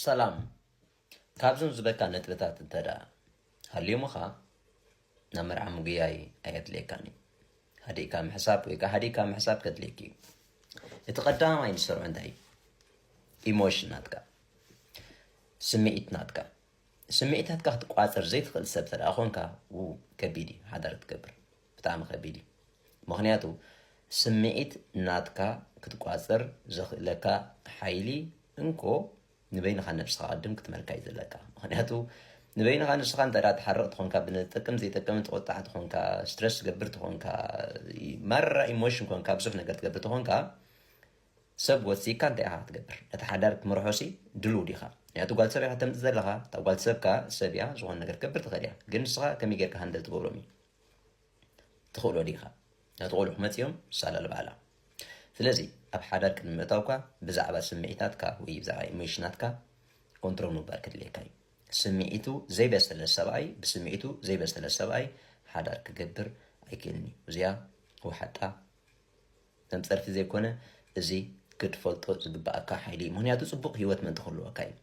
ሰላም ካብዞም ዝበካ ነጥብታት እንተ ሃልዮምኻ ናብ መርዓ ምጉያይ ኣየድልየካን እዩ ሃዲእካ ምሕሳብ ወይ ከዓ ሃዲእካ ምሕሳብ ከድልየክ እዩ እቲ ቀዳማይ ንሰርዑ እንታይ እዩ ኢሞሽን ናትካ ስምዒት ናትካ ስምዒታትካ ክትቋፅር ዘይትኽእል ሰብ ተደኣ ኮንካ ከቢድ እዩ ሓዳር ትገብር ብጣዕሚ ከቢድ እዩ ምክንያቱ ስምዒት ናትካ ክትቋጽር ዘኽእለካ ሓይሊ እንኮ ንበይንኻ ነብስኻ ቅድም ክትመልካ እዩ ዘለካ ምክንያቱ ንበይንኻ ንስኻ እንተ ትሓርቕ ትኾንካ ብንጠቅም ዘይጠቅም ትቆጣዕ ትኾንካ ስትረስ ትገብር ትኾንካ ማራ ኢሞሽን ኮንካ ብዙሕ ነገር ትገብር ትኾንካ ሰብ ወሲካ እንታይ ኢኻ ክትገብር ነቲ ሓዳር ክትምርሖሲ ድልው ዲኻ ምክንያቱ ጓል ሰብ ኢኻ ተምፅእ ዘለኻ እታ ጓል ሰብካ ሰብ እያ ዝኾነ ነገር ትገብር ትኽእል እያ ግን ንስኻ ከመይ ጌርካ ሃንደል ትገብሮም እዩ ትኽእሎ ዲኻ? ነቲ ቁልዕ ክመጽእዮም ሳላ ልበሃላ። ስለዚ ኣብ ሓዳር ቅድሚ ምእታውካ ብዛዕባ ስምዒታትካ ወይ ብዛዕባ ኢሞሽናትካ ኮንትሮል ምግባር ከድልየካ እዩ። ስምዒቱ ዘይበሰለ ሰብኣይ ብስምዒቱ ዘይበሰለ ሰብኣይ ሓዳር ክገብር ኣይክእልን እዩ። እዚኣ ወሓጣ ተምጸርቲ ዘይኮነ እዚ ክትፈልጦ ዝግበኣካ ሓይሊ እዩ። ምክንያቱ ጽቡቕ ህይወት ምእንቲ ክህልወካ እዩ።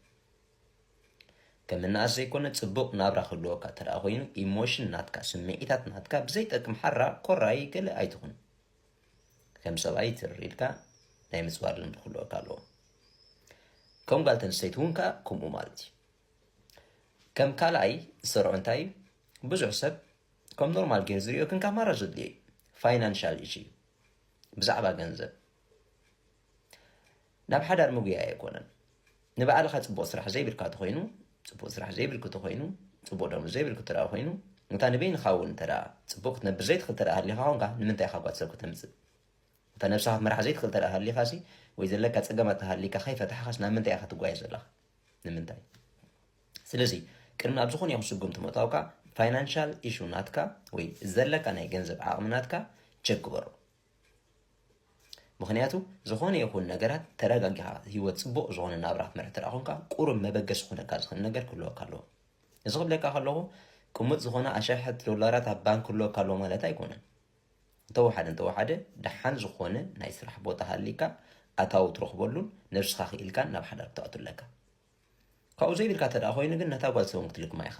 ከም እናኣስ ዘይኮነ ጽቡቅ ናብራ ክህልወካ ተደኣ ኮይኑ ኢሞሽን ናትካ ስምዒታት ናትካ ብዘይጠቅም ሓራ ኮራይ ገለ ኣይትኹን ከም ሰብኣይ ትርር ኢልካ ናይ ምጽዋር ልምዲ ክህልወካ ኣለዎ ከም ጓል ተንስተይቲ እውን ከኣ ከምኡ ማለት እዩ ከም ካልኣይ ዝሰርዖ እንታይ እዩ ብዙሕ ሰብ ከም ኖርማል ገይር ዝሪኦ ግን ካብ ማራ ዘድልዮ እዩ ፋይናንሻል ኢሹ እዩ ብዛዕባ ገንዘብ ናብ ሓዳር ምጉያይ ኣይኮነን ንባዕልኻ ጽቡቅ ስራሕ ዘይብልካ ተኾይኑ ጽቡቅ ስራሕ ዘይብልኪ ተኾይኑ ጽቡቅ ደሞዝ ዘይብልኪ ተደኣ ኮይኑ እታ ንበይንኻ ውን እንተደኣ ጽቡቅ ክትነብር ዘይትኽል ተደኣ ሃሊኻ ኮንካ ንምንታይ ኢኻ ጓል ሰብ ከተምጽእ እታ ነብስኻ ክትመራሕ ዘይትኽል ተደኣ ሃሊኻሲ ወይ ዘለካ ጸገማት ተሃሊካ ከይፈታሕኻስ ናብ ምንታይ ኢኻ ትጓየ ዘለኻ ንምንታይ ስለዚ ቅድሚ ኣብ ዝኾነ ይኹን ስጉምቲ ምእታውካ ፋይናንሻል ኢሹ ናትካ ወይ ዘለካ ናይ ገንዘብ ዓቕሚ ናትካ ቸክ ግበሮ ምክንያቱ ዝኾነ ይኹን ነገራት ተረጋጊኻ ህይወት ፅቡቕ ዝኾነ ናብራ ክትመርሕ እንተ ኮንካ ቁሩብ መበገሲ ክኾነካ ዝኽእል ነገር ክህልወካ ኣለዎ እዚ ክብለካ ከለኹ ቅሙጥ ዝኾነ ኣሸሐት ዶላራት ኣብ ባንክ ክህልወካ ኣለዎ ማለት ኣይኮነን እንተወሓደ እንተወሓደ ደሓን ዝኾነ ናይ ስራሕ ቦታ ሃሊካ ኣታዊ ትረኽበሉን ነብስኻ ክኢልካን ናብ ሓዳር ክትኣቱ ኣለካ ካብኡ ዘይብልካ እተ ኮይኑ ግን ነታ ጓል ሰውን ክትልክማ ኢኻ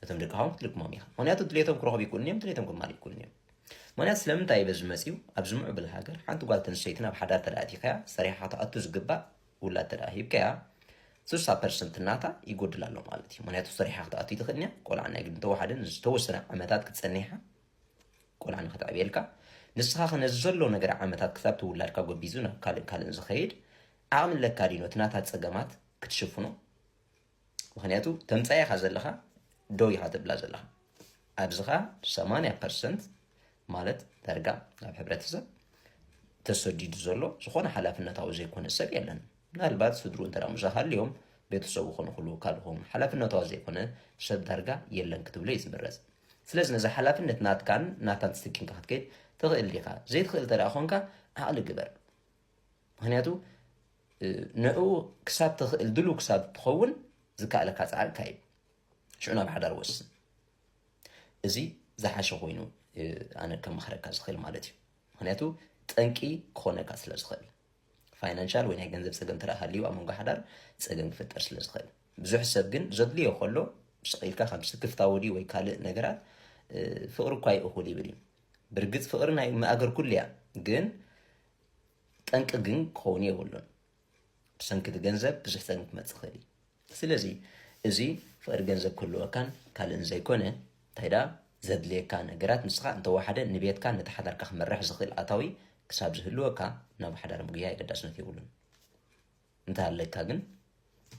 እቶም ደቂ ሃዋን ክትልክሞም ኢኻ ምክንያቱ ድሌቶም ክረኽቡ ይክእሉን እዮም ድሌቶም ክማል ይክእሉን እዮም ምክንያት ስለምንታይ በዚ መፅኡ ኣብዚ ምዕብል ሃገር ሓንቲ ጓል ተንስተይቲ ናብ ሓዳር ተዳእቲካያ ሰሪሓ ትኣቱ ዝግባእ ውላድ ተዳ ሂብካያ ስሳ ፐርሰንት እናታ ይጎድል ኣሎ ማለት እዩ ምክንያቱ ሰሪሓ ክትኣቱ ይትኽእል እያ ቆልዓ ናይ ግድን ተዋሓደን ዝተወሰነ ዓመታት ክትፀኒሓ ቆልዓ ንክትዕብየልካ ንስኻ ከ ነዚ ዘሎ ነገር ዓመታት ክሳብ ትውላድካ ጎቢዙ ናብ ካልእ ካልእን ዝኸይድ ዓቕሚ ኣለካ ዲኖ እቲ ናታ ፀገማት ክትሽፍኖ ምክንያቱ ተምፃእ ኢካ ዘለካ ደው ኢካ ትብላ ዘለካ ኣብዚ ከ ሰማንያ ፐርሰንት ማለት ዳርጋ ናብ ሕብረተሰብ ተሰዲዱ ዘሎ ዝኾነ ሓላፍነታዊ ዘይኮነ ሰብ የለን ምናልባት ስድሩ እንተ ሙሳ ሃልዮም ቤተሰቡ ክንክሉ ካልኹም ሓላፍነታዊ ዘይኮነ ሰብ ዳርጋ የለን ክትብሎ እዩ ዝምረፅ ስለዚ ነዚ ሓላፍነት ናትካን ናታን ትስኪምካ ክትከይድ ትኽእል ዲኻ ዘይትኽእል እንተ ኮንካ ዓቕሊ ግበር ምክንያቱ ንኡ ክሳብ ተኽእል ድሉ ክሳብ ትኸውን ዝከኣለካ ፃዕሪ ካይድ ሽዑ ናብ ሓዳር ወስን እዚ ዝሓሸ ኮይኑ ኣነ ከመኽረካ ዝኽእል ማለት እዩ ምክንያቱ ጠንቂ ክኾነካ ስለ ዝኽእል ፋይናንሻል ወይ ናይ ገንዘብ ፀገም ተረኣ ሃልዩ ኣብ መንጎ ሓዳር ፀገም ክፍጠር ስለ ዝኽእል ብዙሕ ሰብ ግን ዘድልዮ ከሎ ስቂልካ ከም ስክፍታ ወዲ ወይ ካልእ ነገራት ፍቅሪ እኳ ይእኹል ይብል እዩ ብርግፅ ፍቅሪ ናይ መኣገር ኩሉ እያ ግን ጠንቂ ግን ክኸውን የብሉን ብሰንኪ እቲ ገንዘብ ብዙሕ ጸገም ክመጽእ ይኽእል እዩ ስለዚ እዚ ፍቕሪ ገንዘብ ክህልወካን ካልእን ዘይኮነ እንታይ ደኣ ዘድልየካ ነገራት ንስኻ እንተወሓደ ንቤትካ ነቲ ሓዳርካ ክመርሕ ዝኽእል ኣታዊ ክሳብ ዝህልወካ ናብ ሓዳር ምግያ የገዳስነት የብሉን እንታይ ኣለካ ግን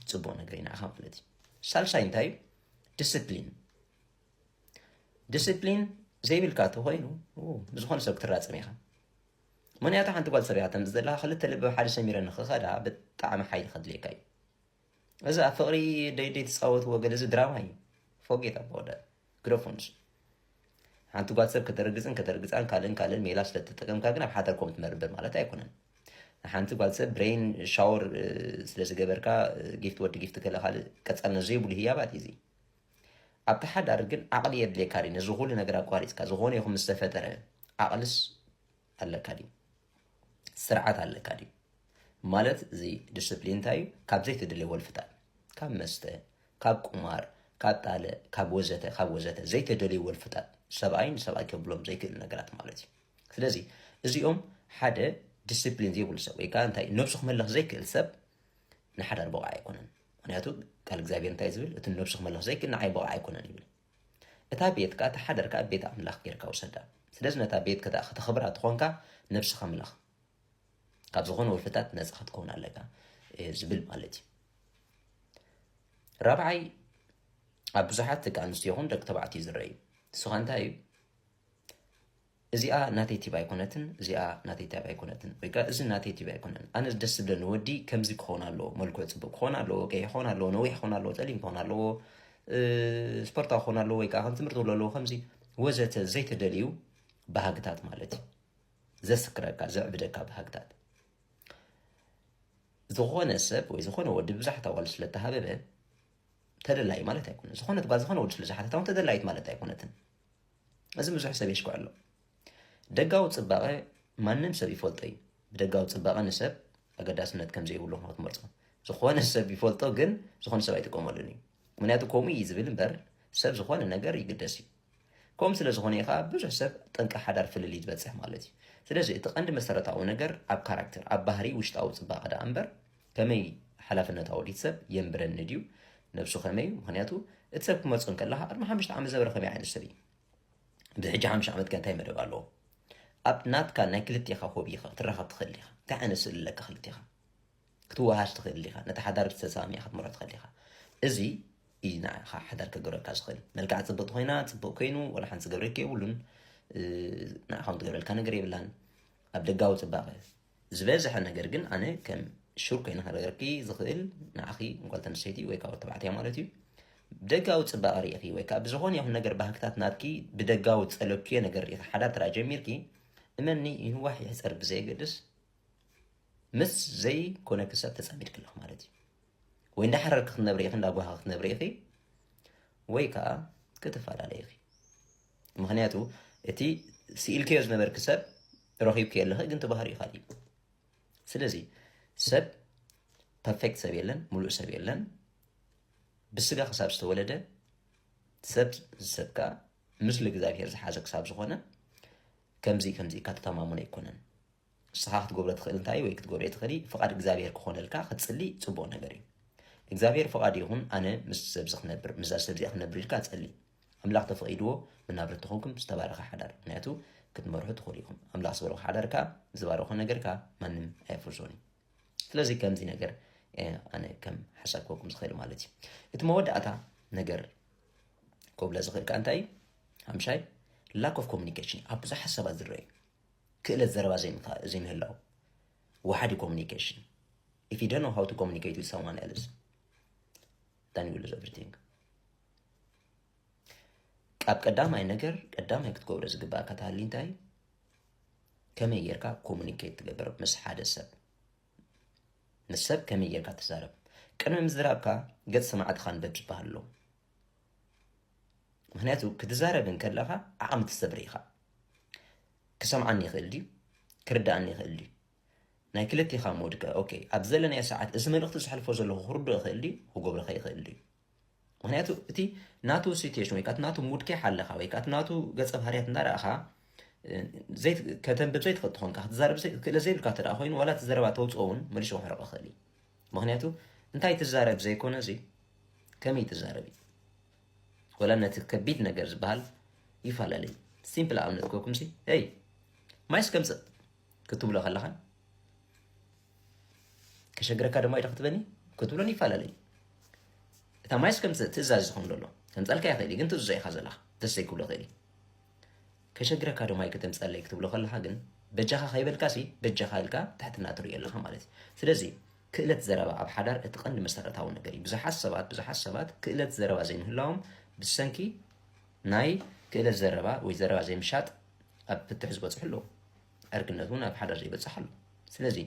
ጽቡቕ ነገር ኢና ኢኻ ማለት እዩ ሳልሳይ እንታይ እዩ ዲስፕሊን ዲስፕሊን ዘይብልካ ተኮይኑ ንዝኾነ ሰብ ክትራጸም ኢኻ ምክንያቱ ሓንቲ ጓል ጽርያ ተምጽ ዘለካ ክልተ ልቢ ሓደ ሰሚረ ንክኸዳ ብጣዕሚ ሓይሊ ከድልየካ እዩ እዚ ኣብ ፍቅሪ ደይደይ ትጻወትዎ ገለ እዚ ድራማ እዩ ፎጌት ኣቦወደ ግረፎንስ ሓንቲ ጓል ሰብ ከተርግጽን ከተርግጻን ካልእን ካልእን ሜላ ስለተጠቀምካ ግን ኣብ ሓተር ኮም ትመርብር ማለት ኣይኮነን ሓንቲ ጓል ሰብ ብሬን ሻወር ስለዝገበርካ ጊፍት ወዲ ጊፍት ገለ ካልእ ቀጻልነት ዘይብሉ ህያባት እዩ እዚ ኣብቲ ሓዳር ግን ዓቅሊ የድልየካ ድዩ ነዚ ኩሉ ነገር ኣቋሪጽካ ዝኮነ ይኩን ምስ ተፈጠረ ዓቅልስ ኣለካ ድዩ ስርዓት ኣለካ ድዩ ማለት እዚ ዲስፕሊን እንታይ እዩ ካብ ዘይተደልየ ወልፍታት ካብ መስተ ካብ ቁማር ካብ ጣለ ካብ ወዘተ ካብ ወዘተ ዘይተደልዩ ወልፍታት ሰብኣይ ንሰብኣይ ከብሎም ዘይክእል ነገራት ማለት እዩ ስለዚ እዚኦም ሓደ ዲስፕሊን ዘይብሉ ሰብ ወይ ከዓ እንታይ ነብሱ ክመልኽ ዘይክእል ሰብ ንሓዳር ብቕዓ ኣይኮነን ምክንያቱ ቃል እግዚኣብሔር እንታይ ዝብል እቲ ንነብሱ ክመልኽ ዘይክእል ንዓይ ብቕዕ ኣይኮነን ይብል እታ ቤት ከዓ ተሓደር ከዓ ቤት ኣምላኽ ጌርካ ውሰዳ ስለዚ ነታ ቤት ከታ ከተኽብራ ትኾንካ ነብስኻ ምለኽ ካብ ዝኾነ ወልፍታት ነፃ ክትከውን ኣለካ ዝብል ማለት እዩ ራብዓይ ኣብ ብዙሓት ደቂ ኣንስትዮ ይኹን ደቂ ተባዕትዮ ዝረአ እዩ ንስኻ እንታይ እዩ እዚኣ ናተይ ቲብ ኣይኮነትን እዚኣ ናተይ ቲብ ኣይኮነትን ወይከኣ እዚ ናተይ ቲብ ኣይኮነን ኣነ ደስ ዝብለኒ ወዲ ከምዚ ክኾን ኣለዎ መልክዑ ጽቡቅ ክኾን ኣለዎ ቀይሕ ክኾን ኣለዎ ነዊሕ ክኾን ኣለዎ ጸሊም ክኾን ኣለዎ ስፖርታዊ ክኾን ኣለዎ ወይ ከዓ ከም ትምህርቲ ክብሎ ኣለዎ ከምዚ ወዘተ ዘይተደልዩ ባህግታት ማለት እዩ ዘስክረካ ዘዕብደካ ባህግታት ዝኾነ ሰብ ወይ ዝኾነ ወዲ ብዛሕት ኣዋል ስለተሃበበ ተደላይ ማለት ኣይኮነ ዝኾነት ጓል ዝኾነ ወዲ ስለዝሓተታ እውን ተደላይት ማለት ኣይኮነትን እዚ ብዙሕ ሰብ የሽኩዕ ኣሎ። ደጋዊ ጽባቐ ማንም ሰብ ይፈልጦ እዩ። ብደጋዊ ጽባቐ ንሰብ ኣገዳስነት ከም ዘይብሉ ክትመርጾ ዝኾነ ሰብ ይፈልጦ፣ ግን ዝኾነ ሰብ ኣይጥቀመሉን እዩ። ምክንያቱ ከምኡ እዩ ዝብል እምበር ሰብ ዝኾነ ነገር ይግደስ እዩ። ከምኡ ስለ ዝኾነ እዩ ከዓ ብዙሕ ሰብ ጠንቂ ሓዳር ፍልልይ ዝበፅሕ ማለት እዩ። ስለዚ እቲ ቀንዲ መሰረታዊ ነገር ኣብ ካራክተር ኣብ ባህሪ ውሽጣዊ ጽባቐ ደኣ እምበር ከመይ ሓላፍነት ኣወዲት ሰብ የንብረኒ ድዩ ነብሱ ከመይ እዩ ምክንያቱ እቲ ሰብ ክመርፆ እንከለካ ቅድሚ ሓሙሽተ ዓመት ዘበረ ከመይ ዓይነት ሰብ እዩ ብሕጂ ሓሙሽተ ዓመት ከ እንታይ መደብ ኣለዎ ኣብ ናትካ ናይ ክልቴኻ ሆቢ ኢኻ ክትራኸብ ትኽእል ኢኻ እንታይ ዓይነት ስእሊ ኣለካ ክልቴኻ ክትወሃሽ ትኽእል ኢኻ ነቲ ሓዳር ብዝተሰማሚዕ ክትምሮ ትኽእል ኢኻ እዚ እዩ ንዓኻ ሓዳር ክገብረልካ ዝኽእል መልክዓ ፅብቕቲ ኮይና ፅቡቅ ኮይኑ ወላ ሓንቲ ዝገብረልካ የብሉን ንዓኻ ትገብረልካ ነገር የብላን ኣብ ደጋዊ ፅባቐ ዝበዝሐ ነገር ግን ኣነ ከም ሹር ኮይነ ክነገርኪ ዝኽእል ንዓኺ ጓል ተንስተይቲ ወይ ካብ ተባዕትያ ማለት እዩ ብደጋዊ ፅባቐ ርኢኺ ወይ ከዓ ብዝኾነ ይኹን ነገር ባህግታት ናትኪ ብደጋዊ ፀለኩዮ ነገር ርኢኺ ሓዳር ተራ ጀሚርኪ እመኒ ይህዋሕ ይሕፀር ብዘየገድስ ምስ ዘይኮነ ክሰብ ተፀሚድክ ኣለኹ ማለት እዩ ወይ እንዳሓረርክ ክትነብሪ ኢኺ እንዳጓሃ ክትነብሪ ኢኺ ወይ ከዓ ክትፈላለ ኢኺ ምክንያቱ እቲ ስኢልከዮ ዝነበርክ ሰብ ረኺብከዮ ኣለኸ ግን ተባህሪ ይካል እዩ ስለዚ ሰብ ፐርፌክት ሰብ የለን ሙሉእ ሰብ የለን ብስጋ ክሳብ ዝተወለደ ሰብ ሰብ ከዓ ምስሊ እግዚኣብሄር ዝሓዘ ክሳብ ዝኾነ ከምዚ ከምዚ ኢልካ ተተማሙነ ኣይኮነን ንስኻ ክትገብሮ ትኽእል እንታይ እዩ ወይ ክትገብርዮ ትኽእሊ ፍቓድ እግዚኣብሄር ክኾነልካ ክትጽሊ ጽቡቕ ነገር እዩ እግዚኣብሄር ፍቓዱ ይኹን ኣነ ምስ ሰብዚ ክነብር ምስዛ ሰብዚኣ ክነብር ኢልካ ጸሊ ኣምላኽ ተፈቒድዎ መናብርቲ ተኾንኩም ዝተባረኸ ሓዳር ምክንያቱ ክትመርሑ ትኽእሉ ኢኹም ኣምላኽ ዝበረኹ ሓዳር ከዓ ዝባረኾ ነገር ከዓ ማንም ኣየፍርሶን እዩ ስለዚ ከምዚ ነገር ኣነ ከም ሓሳብ ክወኩም ዝኽእል ማለት እዩ እቲ መወዳእታ ነገር ኮብለ ዝኽእል ከዓ እንታይ እዩ ሓምሻይ ላክ ኦፍ ኮሚኒኬሽን ኣብ ብዙሕ ሓሳባት ዝረአ እዩ ክእለት ዘረባ ዘይምህላው፣ ወሓዲ ኮሙኒኬሽን if you don't know how to communicate with someone else then you lose everything ካብ ቀዳማይ ነገር ቀዳማይ ክትገብሮ ዝግባእ ከተሃሊ እንታይ ከመይ ጌርካ ኮሙኒኬት ትገብር ምስ ሓደ ሰብ ምስ ሰብ ከመይ ጌርካ ትዛረብ ቅድሚ ምዝራብካ ገጽ ሰማዕትኻ ንበብ ዝበሃል ኣሎ ምክንያቱ ክትዛረብ እንከለኻ ዓቕሚ ትሰብር ኢኻ ክሰምዓኒ ይኽእል ድዩ ክርድኣኒ ይኽእል ድዩ ናይ ክልቴኻ ምውድቀ ኦኬ ኣብ ዘለናዮ ሰዓት እዚ መልእኽቲ ዝሕልፎ ዘለኹ ክርዶ ይኽእል ድዩ ክጎብረኸ ይኽእል ድዩ ምክንያቱ እቲ ናቱ ሲትሽን ወይ ከዓ ናቱ ሙድ ከይ ሓለኻ ወይ ከዓ ናቱ ገፀ ባህርያት እንዳረእኻ ከተንብብ ዘይትኽእል ትኾንካ ክትዛረብ ክእለ ዘይብልካ እተ ኮይኑ ዋላ እቲ ዘረባ ተውፅኦ እውን መልሾ ክሕረቕ ይኽእል እዩ ምክንያቱ እንታይ ትዛረብ ዘይኮነ እዚ ከመይ ትዛረብ እዩ ወላ ነቲ ከቢድ ነገር ዝበሃል ይፈላለ እዩ ሲምፕል ኣብነት ኮኩም ሲ ይ ማይስ ከምፅእ ክትብሎ ከለኻን ከሸግረካ ድማ ኢዶ ክትበኒ ክትብሎን ይፈላለ እዩ እታ ማይስ ከምፅእ ትእዛዝ ዝኸውን ዘሎ ከምፃልካ ይኽእል ግን ትእዝዞ ኢኻ ዘለኻ ደስ ዘይክብሎ ይኽእል እዩ ከሸግረካ ዶ ማይ ከተምጸኣለይ ክትብሎ ከለኻ ግን በጃኻ ከይበልካሲ በጃኻ ኢልካ ትሕትና ትርእዮ ኣለኻ ማለት እዩ። ስለዚ ክእለት ዘረባ ኣብ ሓዳር እቲ ቀንዲ መሰረታዊ ነገር እዩ። ብዙሓት ሰባት ብዙሓት ሰባት ክእለት ዘረባ ዘይምህላዎም ብሰንኪ ናይ ክእለት ዘረባ ወይ ዘረባ ዘይምሻጥ ኣብ ፍትሕ ዝበጽሑ ኣለዉ። ዕርክነት እውን ኣብ ሓዳር ዘይበጽሕ ኣሎ። ስለዚ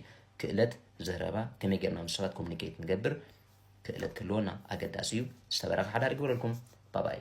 ክእለት ዘረባ ከመይ ጌርና ምስ ሰባት ኮሙኒኬት ንገብር ክእለት ክህልወና ኣገዳሲ እዩ ዝተበረከ ሓዳር ይግበረልኩም ባባይ።